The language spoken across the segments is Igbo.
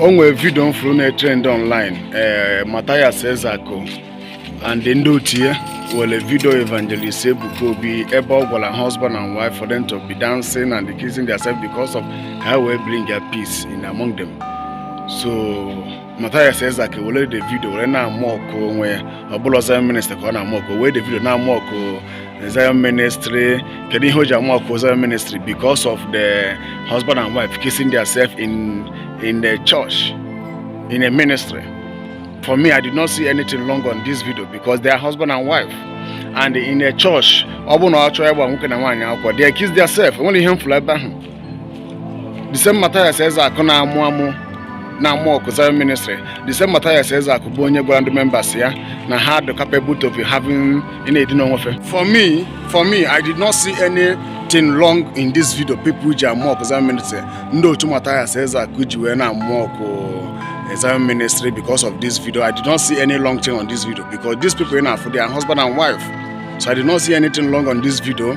o nwere vidio m fụrụ na-etrend online ee eh, Mathias Ezeaku and ndị otu ya were vidio evangelist Ebuka Obi ebe ọ gwara husband and wife for them to be dancing and kissing themselves because of ka ha wee bring a peace in among them so Mathias Ezeaku were the vidio were na-amụ ọkụ onwe ya ọ bụrọ Zion Ministry ka ọ na-amụ ọkụ were the vidio na-amụ ọkụ Zion Ministry kedu ihe o ji amụ ọkụ Zion Ministry because of the husband and wife kissing themselves in in the church in a ministry for me I did not see anything wrong on this video because they are husband and wife and in the church ọ bụ na a chọọ ịgba nwoke na nwaanyị akwụkwọ they kiss themselves o nwerọ ihe m fụrụ ebe ahụ the same Matthias Ezeaku na-amụ amụ na-amụ ọkụ Zion ministry the same Matthias Ezeaku bụ onye gwara ndị members ya na ha dị capable to be having na-edina onwe fe for me for me I did not see anything wrong in this video people ji amụ ọkụ Zion ministry ndị otu Matthias Ezeaku ji wee na-amụ ọkụ eh, Zion ministry because of this video I did not see any wrong thing on this video because these people afụ they are husband and wife so I did not see anything wrong on this video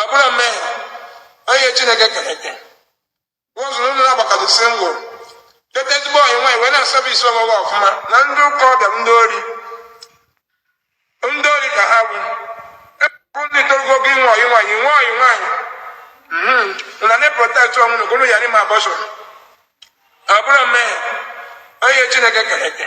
abụrọ mmehie onye chineke kere eke ụzụrụ ụlọ agbakọdụ single leta ezigbo ọyị nwaanyị wee na-eservice onwe gị ọfụma na ndị ụka ọbịa ndị ori ndị ori ka ha bụ bụ ndị torogo gị inwe ọyị nwaanyị inwe ọyị nwaanyị na na-eprotect onwe unu gụrụ ya n'ime abortion abụrọ mmehie onye chineke kere eke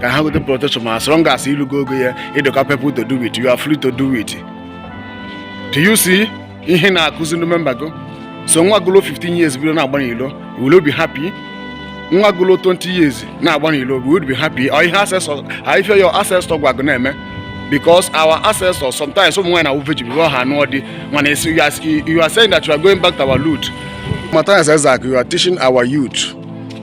ka ha gote protection as long as i lugo ogo ya ị dị capable to do it you are free to do it do you see ihe ị na-akụzi ndị memba gị so nwa gị luo 15 years bido na-agba n'ilo will you be happy nwa gị luo 20 years na-agba n'ilo will you be happy ọ ihe ancestors ha ife your ancestor gwa gị na-eme because our ancestors sometimes ụmụ nwaanyị na-awụ virgin before ha anụọ di mana ị sị you are- you are saying that you are going back to our root Matthias Ezeaku, you are teaching our youth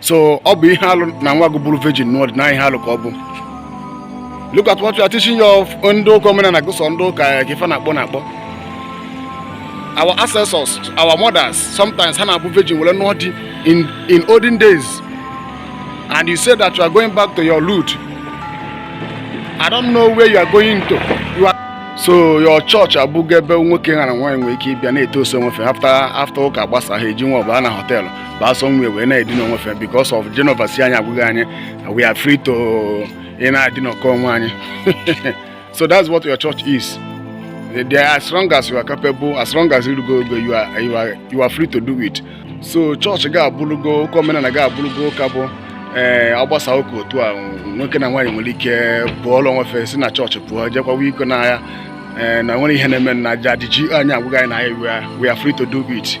so ọ bụ ihe alụ na nwa gị bụrụ virgin nụọ di na ihe alụ ka ọ bụ look at what you are teaching your ndị ụka omenala gị sọ ndị ụka eh, ka ife na-akpọ na-akpọ our ancestors our mothers sometimes ha na-abụ virgin were nụọ di in in olden days and you say that you are going back to your root i don't know where you are going to you are so your church abụgo ebe nwoke ha na nwaanyị nwere ike ịbịa na-etoast onwe fe after after ụka gbasa ha eji nwa ọbụla na họteelụ baa somewhere wee na-edina onwe fe because of Genova sị anyị agwụghị anyị we are free to ịna-edinakọ onwe anyị so that's what your church is they are as long as you are capable as long as i lugo ogo you are, you are, you are free to do it so chọọchị gị abụrụgo ụka omenala gị abụrụgo ụka bụ ee eh, agbasa ụka otu a nwoke na nwaanyị nwere ike kpọlụ onwe fe si na chọọchị pụọ jee kwawa iko n'ọhịa eh, na o nwerọ ihe ọ na-eme na jadi ji anyị agwụghị anyị na anyị we are free to do it